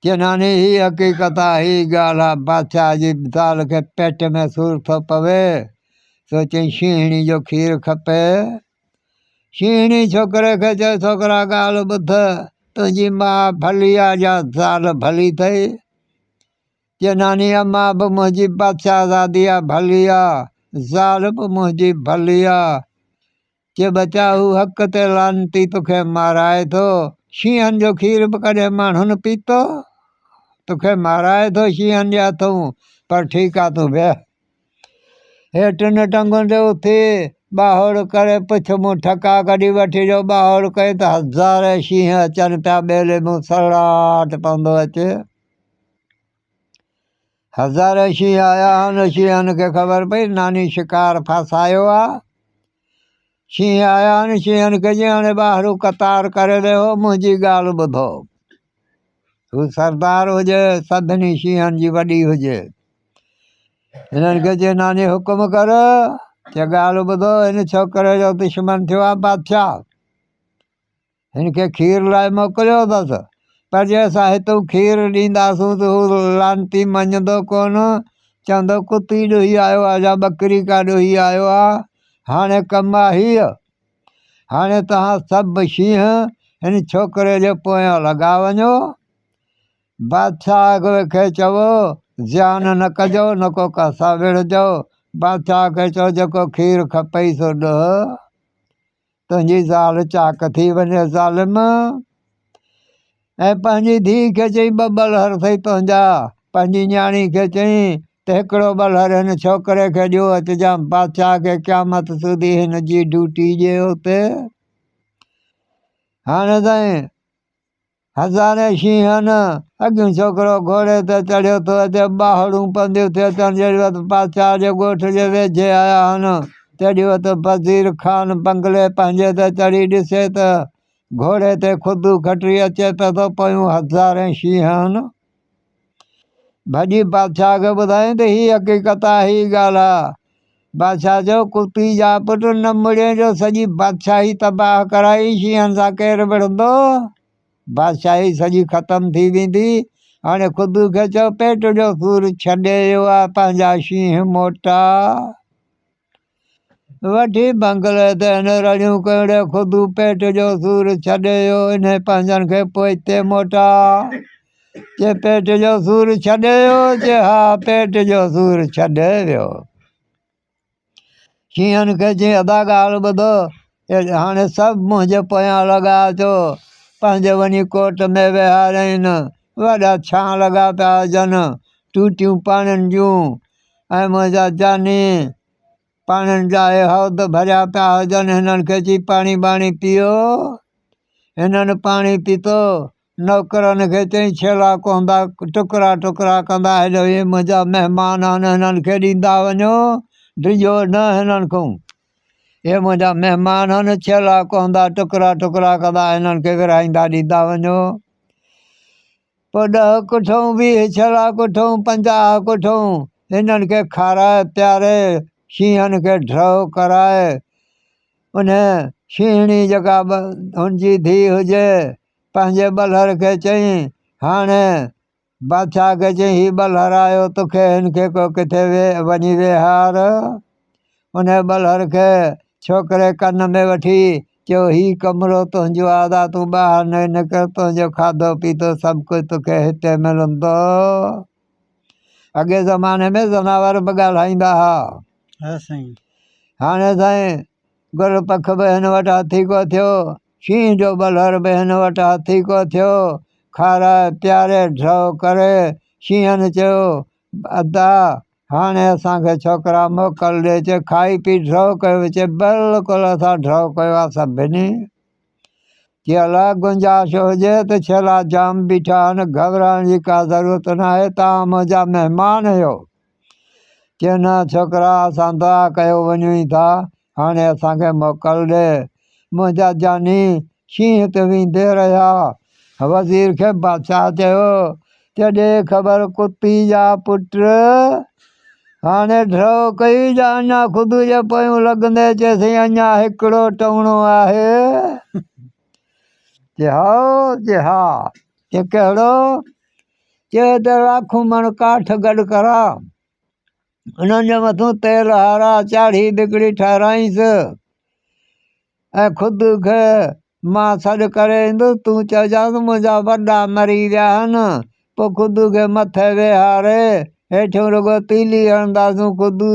چناني هي حقيقت آ، هي ڳالهه آ، بادشاهه جي زال کي پيٽ ۾ سور ٿو پوي، سو چيائين شينهڻي جو کير کپي. شينهڻي ڇوڪري کي چيو ڇوڪرا ڳالهه ٻڌ، تنهنجي ماء ڀلي آ يا زال ڀلي ٿئي؟ چناني اما به منهنجي بادشاهزادي آ ڀلي آ، زال به منهنجي ڀلي آ. چي ٻچا هو حق تي لعنتي توکي مارائي ٿو شينهن جو کير به ڪڏهن ماڻهن پيتو توکي مارائي ٿو شينهن جي هٿون پر ٺيڪ آ تون بيهه هي ٽن ٽنگن تي اٿي ٻاهوڙ ڪري پڇ مون ٺڪا ڪڍي وٺي جو ٻاهوڙ ڪئين ته هزارين شينهن اچن پيا ٻيلي مون سرڙاٽ پوندو اچي هزارين شينهن آيا هن شينهن کي خبر پئي ناني شڪار ڦاسايو آ شينهن آيا هن شينهن کي جي هاڻي ٻاهرو قطار ڪري ڏيو منهنجي ڳالهه ٻڌو هو سردار هجي سڀني شينهن جي وڏي هجي هنن کي جي ناني حڪم ڪر چي ڳالهه ٻڌو هن ڇوڪري جو دشمن ٿيو آ بادشاهه هن کي کير لاء موڪليو اٿس، پر جي اسان هتون کير ڏينداسون ته هو لعنتي مڃيندو ڪونه، چوندو ڪتي ڏوهي آيو آهي يا ٻڪري ڪا ڏوهي آيو آهي، هاڻي ڪم آهي هيء. هاڻي توهان سڀ شينهن هن ڇوڪري جي پويان لڳا وڃو. بادشاهه کي چئو، زيان نه ڪجو، نه ڪو ڪاسا ويڙهجو. بادشاهه کي چئو، جيڪو کير کپئي سو ڏوهه. تنهنجي زال چاڪ ٿي وڃي ظالم! ۽ پنهنجي ڌيء کي چئين ٻه ٻلهر ٿئي تنهنجا. پنهنجي نياڻي کي چئين ته هڪڙو ٻلهر هن ڇوڪري کي ڏيو اچجام بادشاهه کي قيامت سوڌي هن جي ڊوٽي ڏيو ته هاڻي تائين هزارين شينهن اڳيون ڇوڪرو گهوڙي تي چڙهيو ٿو اچي، ٻاهڙون پنديون ٿي اچن، جيڏي وقت پاڇا جي ڳوٺ جي ويجهي آيا هن، تيڏي وقت وزير خان بنگلي پنهنجي تي چڙهي ڏسي ته گهوڙي تي خودو کٽري اچي پيو ٿو، پويون هزارين شينهن هن. ڀڄي بادشاهه کي ٻڌايائين ته هيء حقيقت آهي، هيء ڳالهه آهي. بادشاهه چيو، ڪتي جا پٽ، نه مڙين جو سڄي بادشاهي تباهه ڪرائي، شينهن سان ڪير وڙهندو؟ بادشاهي سڄي ختم ٿي ويندي. هاڻي خدو کي چئو، پيٽ جو سور ڇڏي اهو آهي، پنهنجا شينهن موٽاء. وٺي بنگلي تي هن رڙيون ڪيون، ڙي خدو پيٽ جو سور ڇڏي ويو، انهي پنهنجن کي پوئتي موٽا، چي پيٽ جو سور ڇڏي ويو؟ چي ها پيٽ جو سور ڇڏي ويو. شينهن کي چيائين ادا ڳالهه ٻڌو، هاڻي سڀ منهنجي پويان لڳا اچو، پنهنجي وڃي ڪوٽ ۾ ويهارين، وڏا ڇان لڳا پيا هجن، ٽوٽيون پاڻين جون ۽ منهنجا جاني پاڻين جا اهي حوض ڀريا پيا هجن، هنن کي چي پاڻي ٻاڻي پيئو، هنن پاڻي پيتو، نوڪرن کي چئين، ڇيلا ڪهندا، ٽڪرا ٽڪرا ڪندا، هيڏو هي منهنجا مهمان آهن، هنن کي ڏيندا وڃو، ڊڄو نه هنن کان. هي منهنجا مهمان آهن، ڇيلا ڪهندا، ٽڪرا ٽڪرا ڪندا، هنن کي ورهائيندا ڏيندا وڃو. پوء ڏهه ڪٺون، ويهه ڇيلا ڪٺون، پنجاهه ڪٺون، هنن کي کارائي پياري، شينهن کي ڍرو ڪرائي، انهي شينهڻي جيڪا هن جي ڌيء هجي، پنهنجي ٻلهر کي چيائين، هاڻي بادشاهه کي چيائين، هي ٻلهر آيو تو کي، هن کي ڪو ڪٿي وڃي ويهار. انهيء ٻلهر کي ڇوڪري ڪن ۾ وٺي چيو، هي ڪمرو تنهنجو آزاد، تون ٻاهر نه نڪر، تنهنجو کاڌو پيتو سڀ ڪجهه تو کي هتي ملندو. اڳئين زماني ۾ زناور به ڳالهائيندا ها. هاڻي سائين گل پک به هن وٽ هٿي ڪو ٿيو، شينهن جو ٻلهر به هن وٽ هٿي ڪو ٿيو. کارائي پياري ڊرئو ڪري شينهن چيو، ادا! هاڻي اسان کي ڇوڪرا موڪل ڏي چي کائي پي ڊرئو ڪيو. چي بلڪل اسان ڊرئو ڪيو آ سڀني. چي الا گنجائش هجي ته ڇيلا جام بيٺا آهن گهٻرائڻ جي ڪا ضرورت ناهي توهان منهنجا مهمان هيو. چيو نه ڇوڪرا اسان دعا ڪيو وڃون ئي ٿا هاڻي اسان کي موڪل ڏي منهنجا جاني شينهن هت ويندي رهيا وزير کي بادشاهه چيو ته ڏي خبر ڪتي جا پٽ هاڻي ڍرو ڪئي جا اڃا خود جي پويون لڳندي چيسي اڃا هڪڙو ٽوڻو آهي جي ها جي ها چي ڪهڙو چي ته لاکون مڻ ڪاٺ گڏ ڪرا انهن جي مٿو تيل هارا چاڙهي بگڙي ٺهرائينس ۽ خود کي مان سڏ ڪري ايندس تون چئجانس منهنجا وڏا مري ويا آهن پوء خدو کي مٿي ويهاري هيٺيون رڳو تيلي هڻنداسون خدو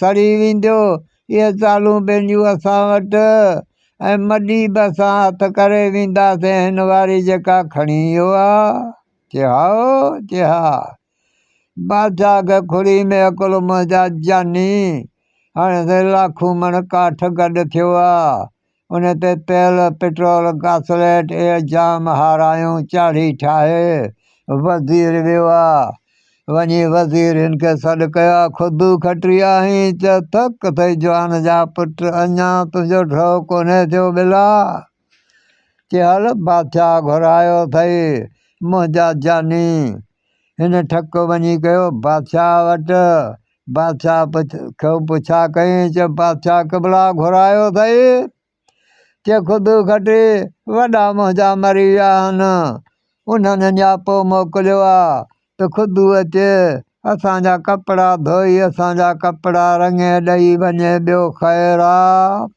سڙي ويندو اهي چالون پنهنجون اسان وٽ ۽ مڏي به اسان هٿ ڪري وينداسين هن واري جيڪا کڻي اهو آ چي هائو چي ها بادشاهه کي کڙي ۾ اڪلو منهنجا جاني هاڻي لاکون مڻ ڪاٺ گڏ ٿيو آ ان تي تيل، پيٽرول، گاسليٽ اهي جام هارايون چاڙهي ٺاهي وزير ويو آ. وڃي وزير هن کي سڏ ڪيو آ، خودو کٽري آهين، چئه ٿڪ ٿئي جوان جا پٽ، اڃا تنهنجو ڍؤ ڪونهي ٿيو ٻلا! چي هل بادشاهه گهرايو اٿئي، منهنجا جاني هن ٺڪ وڃي ڪيو بادشاهه وٽ. بادشاهه کي پڇا ڪيائين، چي بادشاهه قبلا گهرايو اٿئي؟ چي خود کٽي وڏا منهنجا مري ويا آهن، انهن نياپو موڪليو آ ته خود اچي اسان جا ڪپڙا ڌوئي اسان جا ڪپڙا رڱي ڏئي وڃي، ٻيو خير آ.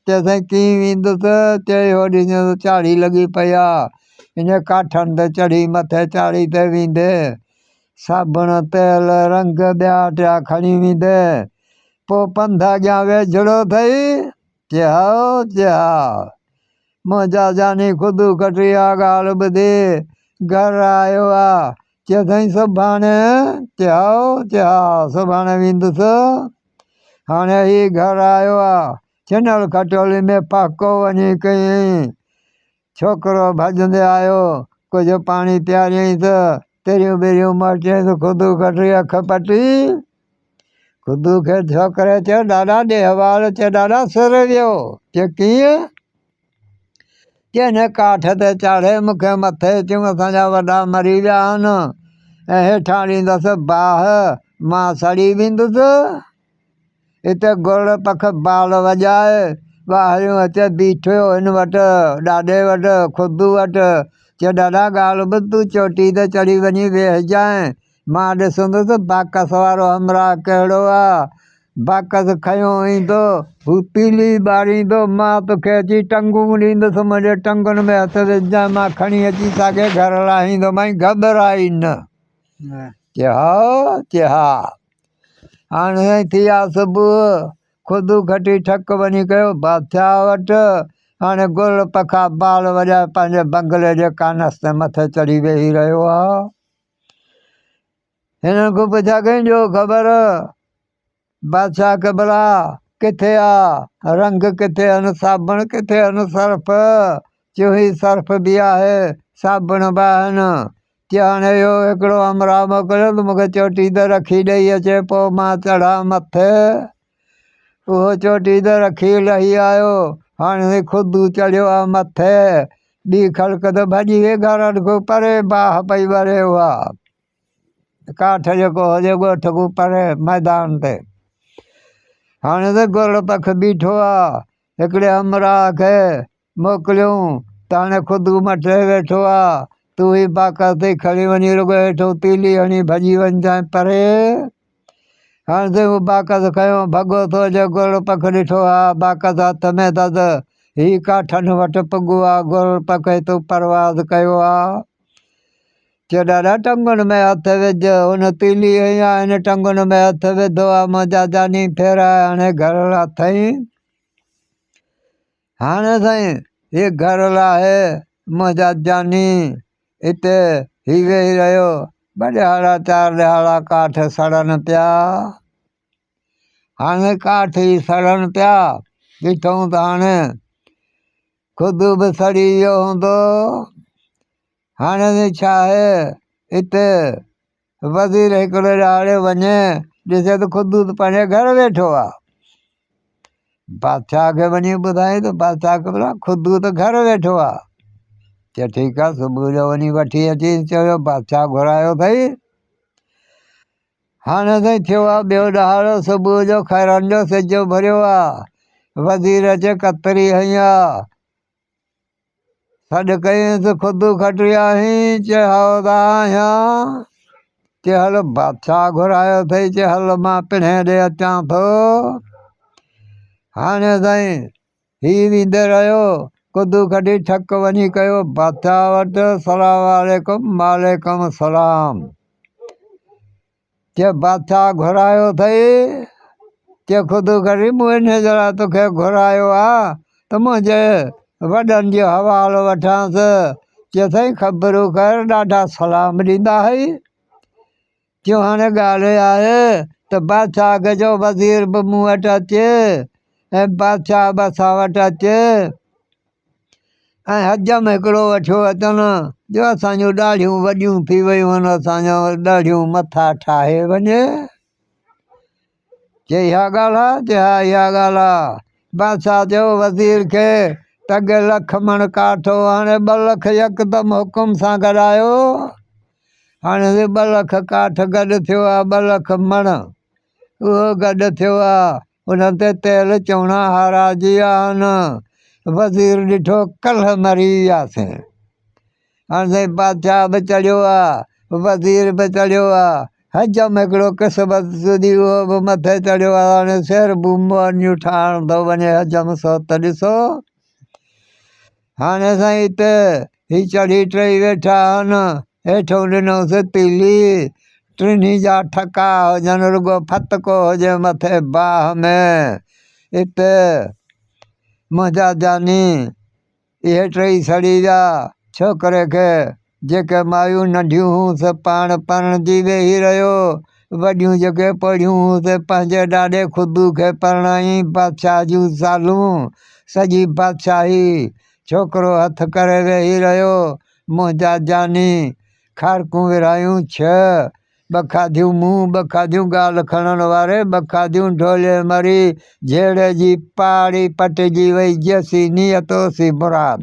چيسين ڪيئن ويندس؟ چي اهو ڏسجانس چاڙهي لڳي پئي آ. ان ڪاٺن تي چڙهي مٿي چاڙهي تي ويندي، صابڻ، تيل، رنگ، ٻيا ٽيا کڻي ويندي، پوء پنڌ اڳيان ويجهڙو ٿئي، چي هائو، چي ها. منهنجا جاني خودو ڪٽي اها ڳالهه ٻڌي گهر آيو ها، چي سائين سڀاڻي، چي هائو، چي ها، سڀاڻي ويندس. هاڻي هي گهر آيو ها، ڇنل کٽولي ۾ پهڪو وڃي ڪيئين. ڇوڪرو ڀڄندي آيو، ڪجهه پاڻي پياريائين ته تريون ٻريون مار چيائين ته خدو ڪٽي اک پٽي. خدو کي ڇوڪري چيو ڏاڏا ڏيهواڙ چي ڏاڏا سر ويو. چي ڪيئن؟ چي هن ڪاٺ تي چاڙهي مون کي مٿي چيم اسان جا وڏا مري ويا آهن ۽ هيٺان ڏيندس باهه مان سڙي ويندس. اتي گرڙ پک بال وڄائي، ٻاهريون اچي بيٺيو هن وٽ، ڏاڏي وٽ، خود وٽ، چيو ڏاڏا ڳالهه ٻڌ تون چوٽي تي چڙهي وڃي ويهجانء، مان ڏسندس باڪس وارو همراهه ڪهڙو آ، باڪس کنيو ايندو، هو پيلي ٻاريندو، مان توکي اچي ٽنگون ڏيندس، منهنجي ٽنگن ۾ هٿ وجهجانء، مان کڻي اچي ساڳي گهر لاهيندومانء، گهٻرائي نه. چي هائو، چي ها. هاڻي ٿيا صبح، خود گهٽي ٺڪ وڃي ڪيو بادشاهه وٽ. هاڻي گل پکا بال وڄائي پنهنجي بنگلي جي ڪانس تي مٿي چڙهي ويهي رهيو آ. هنن کان پڇيا ڪئين جو خبر بادشاهه قبلا ڪٿي آ رنگ ڪٿي آهن صابڻ ڪٿي آهن سرف چيو هي سرف به آهي صابڻ به آهن تي هاڻي اهو هڪڙو همراهه موڪليو ته مون کي چوٽي تي رکي ڏئي اچي پوء مان چڙهان مٿي. اهو چوٽي تي رکي لهي آيو. هاڻي خودو چڙهيو ها مٿي. ٻي خلق ته ڀڄي وئي گهرن کان پري باهه پئي وري اها ڪاٺ جيڪو هجي ڳوٺ کان پري ميدان تي. هاڻي ته گرڙ پک بيٺو ها. هڪڙي همراهه کي موڪليون ته هاڻي خود عمر ٽهي ويٺو آ، تون هي باقر تي کڻي وڃي رڳو هيٺون تيلي هڻي ڀڄي وڃجانء پري. هاڻ تي مون باقر کنيو، ڀڳو تو جو گورڙ پک ڏٺو آ، باقر هٿ ۾ دد، هي ڪا ٺنڍ وٽ پڳو آ، گورڙ پک هي تون پرواز ڪيو آ. چيو ڏاڏا ٽنگن ۾ هٿ وجهه، هن تيلي هئي آ، هن ٽنگن ۾ هٿ وڌو آ، منهنجا جاني ڦيرا هاڻي گهرڙا ٿئين. هاڻ سائين هي گهر لاهي منهنجا جاني اتي هي ويهي رهيو ٻه ڏهاڙا چار ڏهاڙا ڪاٺ سڙن پيا هاڻي ڪاٺ ئي سڙن پيا ڏٺئون ته هاڻي خود به سڙي ويو هوندو هاڻي ته ڇا آهي اتي وزير هڪڙي ڏهاڙي وڃي ڏسي ته قدوس پنهنجي گهر ويٺو آ بادشاهه کي وڃي ٻڌائي ته بادشاهه کي ٻڌا قدوس گهر ويٺو آ چي ٺيڪ آ صبح جو وڃي وٺي اچي چيو بادشاهه گهرايو اٿئي هاڻي سائين ٿيو آ ٻيو ڏهاڙو صبح جو خيرن جو سج اڀريو آ وزير اچي ڪتري هنئي آ سڏ ڪينس خود کٽيائين چي هودا آهيان چي هل بادشاهه گهرايو اٿئي چي هل مان پڻهين ڏي اچان ٿو هاڻي سائين هي ويندي رهيو خود کٽي ٺڪ وڃي ڪيو بادشاهه وٽ سلام عليڪم وعليڪم سلام چي بادشاهه گهرايو اٿئي، چي خود غريب مونهن جهڙا توکي گهرايو آ ته منهنجي وڏن جو حوالو وٺانس، چي سائين خبرون خير ڏاڍا سلام ڏيندا هئي، چيو هاڻي ڳالهه اها آهي ته بادشاهه کي چئو وزير به مون وٽ اچي ۽ بادشاهه به اسان وٽ اچي. ۽ حجم هڪڙو وٺيو اچن جو اسان جون ڏاڙهيون وڏيون ٿي ويون آهن اسان جا ڏاڙهيون مٿا ٺاهي وڃي چي اها ڳالهه آ چي ها اها ڳالهه آ بادشاهه چيو وزير کي ته اڳي لک مڻ ڪاٺ هو هاڻي ٻه لک يڪدم حڪم سان گڏايو هاڻي ٻه لک ڪاٺ گڏ ٿيو آ ٻه لک مڻ اهو گڏ ٿيو آ، ان تي تيل چوڻا هاراجي آهن. وزير ڏٺو ڪلهه مري وياسين. هاڻ سائين بادشاهه به چڙهيو آ، وزير به چڙهيو آ، حجم هڪڙو قسمت سودي اهو به مٿي چڙهيو آ، هاڻي سير بومون ٺاهڻ ٿو وڃي حجم سوت ڏسو. هاڻي اسان هتي هي چڙهي ٽرئي ويٺا آهن هيٺون ڏنوس تيلي ٽنهي جا ٺڪا هجن رڳو ڦتڪو هجي مٿي باهه ۾ هتي منهنجا جاني اهي ٽئي سڙي ويا ڇوڪري کي جيڪي مايون ننڍيون هيون سي پاڻ پرڻجي ويهي رهيو، وڏيون جيڪي پوڙهيون هيون سي پنهنجي ڏاڏي خدو کي پرڻايائين بادشاهه جون زالون، سڄي بادشاهي، ڇوڪرو هٿ ڪري ويهي رهيو، منهنجا جاني، کارڪون ورهايون ڇهه، ٻه کاڌيون مون، ٻه کاڌيون ڳالهه کڻڻ واري، ٻه کاڌيون ڍولي مري، جهيڙي جي پاڙي پٽجي وئي، جيسي نيت اوسي مراد.